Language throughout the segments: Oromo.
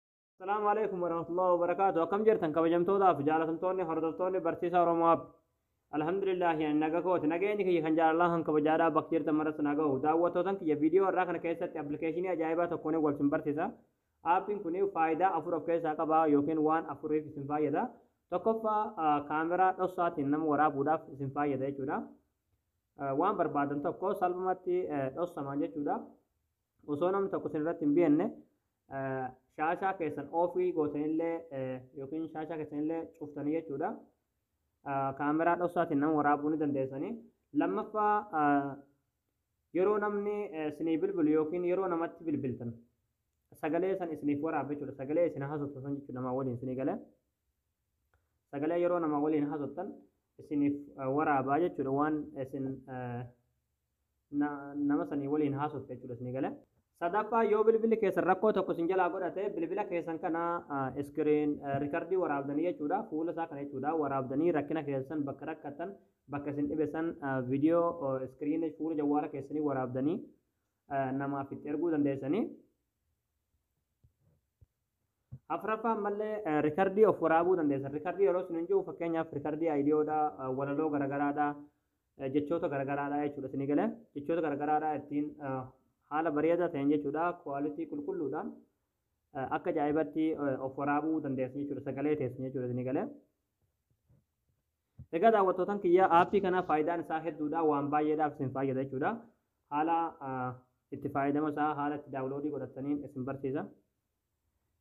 Assalaamu alaikum warahmatullahi wabarakaatu akkam jirtan kabajamtootaaf jaalatamtoonni hordoftoonni barsiisaa Oromoo app Alhamdulillah yani naga kooti nageenyi kiyya kan jaalalaa kan kabajaadhaa bakka jirtan maratti na gahu daawwattootan kiyya viidiyoo har'aa kana keessatti appilikeeshinii ajaa'ibaa tokkoon wal sin barsiisa aappiin kun faayidaa afur of keessaa qaba yookiin waan afuriif isin fayyada tokkoffaa kaameraa dhossaatiin nama waraabuudhaaf isin fayyada jechuudha waan barbaadan tokko salphumatti dhossamaan jechuudha Osoo namni tokko isin irratti hin beekne shaashaa keessan oofii gootanillee yookiin shaashaa keessanillee cuftanii jechuudha. Kaameraa dhoksaatiin nama waraabuu ni dandeessanii. Lammaffaa yeroo namni isinii bilbilu yookiin yeroo namatti bilbiltan sagalee san isiniif waraabe jechuudha. Sagalee isin haasoftan san jechuudha namaa waliin isinii galee. Sagalee yeroo namaa waliin haasoftan isiniif waraabaa jechuudha waan isin na, nama sanii waliin haasofta jechuudha isinii gale. Sadaffaa yoo bilbilli keessan rakkoo tokko isin jalaa godhate bilbila keessan kana iskiriin rikardii waraabdanii jechuudha fuula isaa kana jechuudha waraabdanii rakkina keessan bakka rakkattan bakka isin dhibe san viidiyoo iskiriina fuula jawwaala keessanii waraabdanii namaaf itti erguu dandeessanii. Afraffaa ammallee rikardii of waraabuu dandeessa. Rikardii yeroo isin hin jiru fakkeenyaaf rikardii ayidiyoodha, walaloo garagaraadha, jechoota garagaraadha jechuudha isinii galee. Jechoota garagaraadha ittiin haala bareedaa ta'een jechuudha kuwaalitii qulqulluudhaan akka ajaa'ibatti of waraabuu dandeessa jechuudha sagalee teessan jechuudha isinii galee. Egaa daawwattootan kiyyaa aappii kana faayidaan isaa hedduudha waan baay'eedhaaf isin fayyada jechuudha. Haala itti fayyadama isaa haala itti daawuloodii godhattaniin isin barsiisa.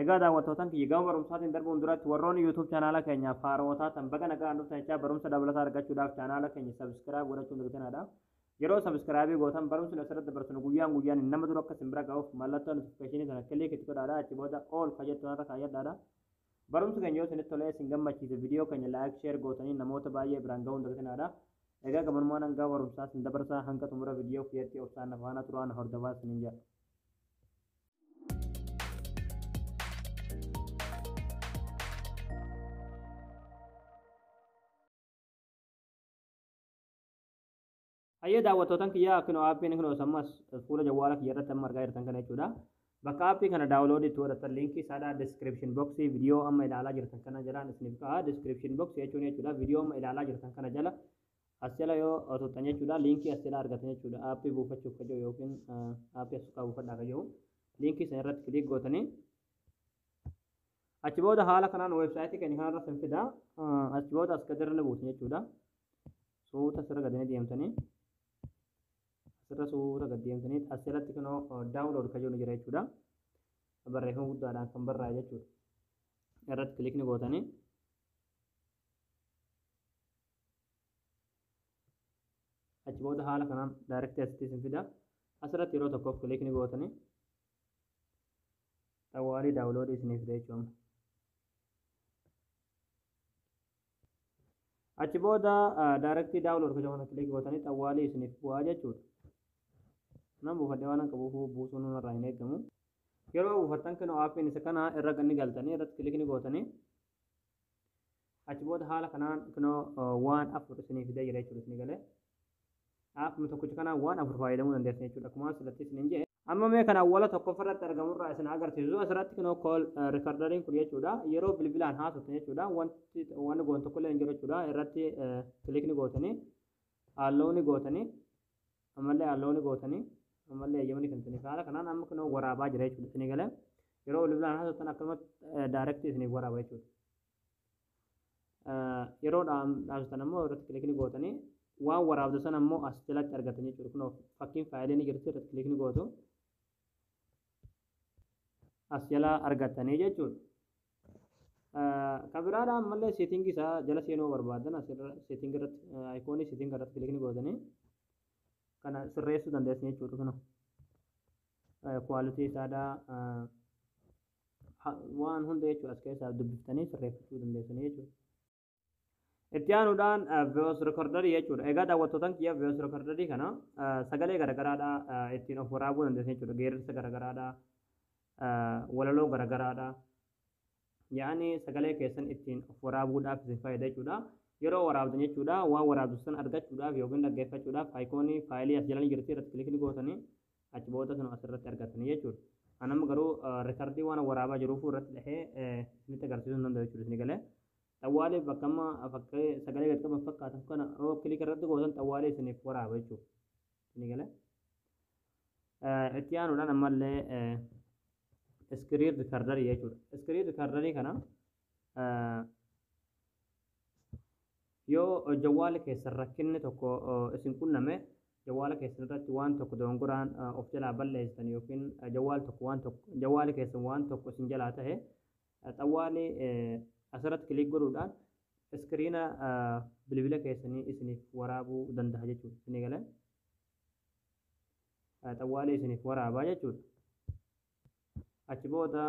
Egaa daawwattootan kiyya gama barumsaatiin darbuun duratti warroonni YouTube chaanaala keenyaaf haaroo taatan baga nagaan dhuftan jechaa barumsa dabalataa argachuudhaaf chaanaala keenya sabiskiraayib godhachuun dagitinaadha. Yeroo sabiskiraayibii gootan barumsi asirratti dabarsinu guyyaan guyyaan nama dura akka isin bira ga'uuf mallattoo notifikashinii sana kiliik itti godhaadha achi booda ool kajettu irra kaayyadhaadha. Barumsi keenya yoo isinitti tolee isin gammachiise video keenya like share gootanii namoota baay'ee biraan ga'uun dagatinaadha. Egaa gamanumaan hangaa barumsaa isin dabarsaa hanga xumura video kiyyatti obsaan na faana turaa na hordofaa isinin jedha. Hayyee daawwattootan kiyyaa akkinoo aappiin akkinoo sammas fuula jawwaala kiyya irratti amma argaa jirtan kana jechuudha. Bakka aappii kana daawuloodii itti godhatan liinkii isaadhaa description box viidiyoo amma ilaalaa jirtan kana jalaan isiniif ka'a. Description box jechuun jechuudha viidiyoo amma ilaalaa jirtan kana jala as jala yoo tuqxan jechuudha liinkii as jala argatan jechuudha aappii buufachuuf kajoo yookiin aappii as tuqaa buufadhaa kajoo liinkii sana irratti kiliik gootanii achi booda haala kanaan weebsaayitii keenya kanarratti hin fida achi booda as gadirra ni buusu jechuudha. suuta asirra gadi ni deemtanii asirra suuta gadi deemtanii asirratti kunoo daawunlood kan jedhu jira jechuudha. Barreeffama guddaadhaan kan barraa'e jechuudha. Irratti kilikni gootanii achi booda haala kanaan daayirektii asitti isin fida. Asirratti yeroo tokkoof kilikni gootanii xawwaalii daawunloodii isiniif fida jechuudha. Achi booda daarektii daawunlood gocha kana kilik gootanii xawwaalii isiniif bu'aa jechuudha. Nan buufadhee waan qabuuf buusuun irraa hin eegamu. Yeroo buufattan kenoo aappiin isa kana irra ni galtanii irratti kilik ni gootanii achi booda haala kanaan kinoo waan afur isiniif fidee jira jechuudha isinii galee. Akkuma tokkicha kanaa waan afur fayyadamuu dandeessan jechuudha. Akkuma asirratti isin hin jedhe. Amma mee kan awwala tokkoffaa irratti argamu irraa isin agarsiisu asirratti kunoo kool riikardariin kun jechuudha. Yeroo bilbilaan haasoftan jechuudha. Wanti wanni goon tokkollee hin jiru jechuudha. Irratti kilikni gootanii haallooni gootanii ammallee haallooni gootanii ammallee eeyyamni kan isinif haala kanaan amma kunoo waraabaa jira jechuudha. Isinii galee yeroo bilbilaan haasoftan akkasumatti daayirektii isiniif waraaba jechuudha. yeroo dhaamsitan ammoo irratti kilikni gootanii waan waraabdu sana ammoo as jalatti argatan jechuudha kunoo fakkiin faayilii ni jirti irratti kilikni gootu as jalaa argatanii jechuudha. Kabiraadha ammallee seetingii isaa jala seenuu barbaadan asirra seetingii irratti ayikoonii seetingii irratti kilikni gootanii kana sirreessuu dandeessan jechuudha kunoo. Kuwaalitii isaadhaa waan hunda jechuudha as keessaa dubbiftanii sirreeffachuu dandeessanii jechuudha. Itti aanuudhaan voice recorder jechuudha. Egaa daawwattootaan kiyya voice recorder kana sagalee garagaraadha ittiin of waraabuu dandeessan jechuudha. Geerarsa garagaraadha, walaloo garagaraadha. Yaa'anii sagalee keessan ittiin of waraabuudhaaf isin fayyada jechuudha. Yeroo waraabdan jechuudha waan waraabdu san argachuudhaaf yookiin dhaggeeffachuudhaaf ayikoonii faayilii as jalanii jirti irratti kilikni gootanii achi booda sun asirratti argatanii jechuudha. An amma garuu rikardii waan waraabaa jiruuf irratti dhahee isinitti agarsiisuu hin danda'u jechuudha isin galee. Xawwaalee bakka amma fakkii sagalee gad qaban fakkaatan kana yoo kilik irratti gootan xawwaalee isiniif waraaba jechuudha. Isin galee. Itti aanuudhaan ammallee iskiriin rikardarii jechuudha. Iskiriin rikardarii kana Yoo jawwaala keessan rakkinni tokko isin qunname jawwaala keessan irratti waan tokko dogongoraan of jalaa balleessitan yookiin jawwaal tokko waan tokko jawwaali keessan waan tokko isin jalaa tahe xawwaali asirratti kiliik godhuudhaan iskiriina bilbila keessanii isiniif waraabuu danda'a jechuudha. Isinii galee xawwaali isiniif waraabaa jechuudha. Achi booda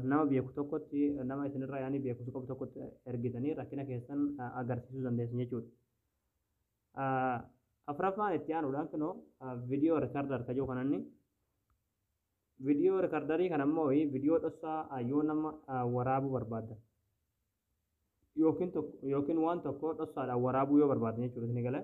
nama beeku tokkotti, nama isinirra yaanii beekumsa qabu tokkotti ergitanii rakkina keessan agarsiisuu dandeessan jechuudha. Afraffaan itti aanuudhaan kunoo viidiyoo rikardaar ka jiru kananni. Viidiyoo rikardarii kana immoo viidiyoo dhossaa yoo nama waraabuu barbaaddan yookiin waan tokko dhossaadhaan waraabuu yoo barbaaddan jechuudha isin galee.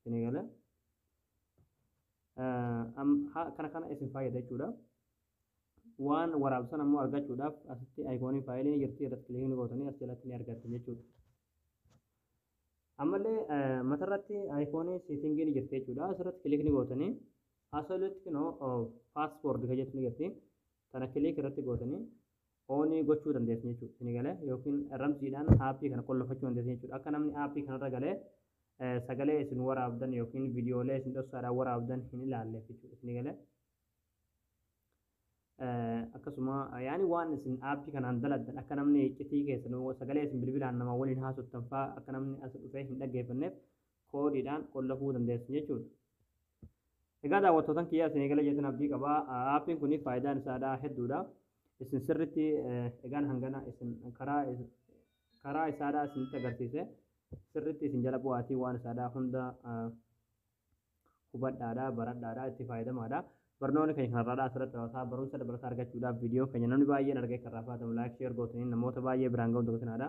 Isinii gala. Kana kana isin fayyada jechuudha. Waan waraabsan ammoo argachuudhaaf asitti ayikooniin faayilii ni jirti irratti kiliikni gootanii as jalatti ni argattu jechuudha. Ammallee matarratti ayikoonii seetingii ni jirti jechuudha. Asirratti kiliikni gootanii asirratti kunoo paaspoordi kan jettu ni jirti. Tana kiliik irratti gootanii oonii gochuu dandeessan jechuudha. Isin galee yookiin ramsiidhaan aappii kana qollofachuu dandeessan jechuudha. Akka namni aappii kanarra galee sagalee isin waraabdan yookiin viidiyoolee isin dhossaadhaan waraabdan hin ilaalleef jechuudha. Isin galee akkasuma yaani waan isin aappii kanaan daladdan akka namni iccitii keessan sagalee isin bilbilaan nama waliin haasoftan fa'aa akka namni as dhufee hin dhaggeeffanneef koodiidhaan qollafuu dandeessu jechuudha. Egaa daawwattootan kiyyaa isinii gala jeetan abdii qaba. Aappiin kun faayidaan isaadhaa hedduudha. Isin sirritti egaan hangana isin karaa karaa isaadhaa isinitti agarsiise sirritti isin jala bu'aatii waan isaadhaa hunda hubadhaadha baradhaadha itti faayidamaadha. Barnoonni keenya kanarraadhaa asirratti raawwataa barumsa dabalataa argachuudhaaf viidiyoo keenya namni baay'een argee kan raafaatamu laayik sheer gootanii namoota baay'ee biraan ga'uun dagatinaa dha.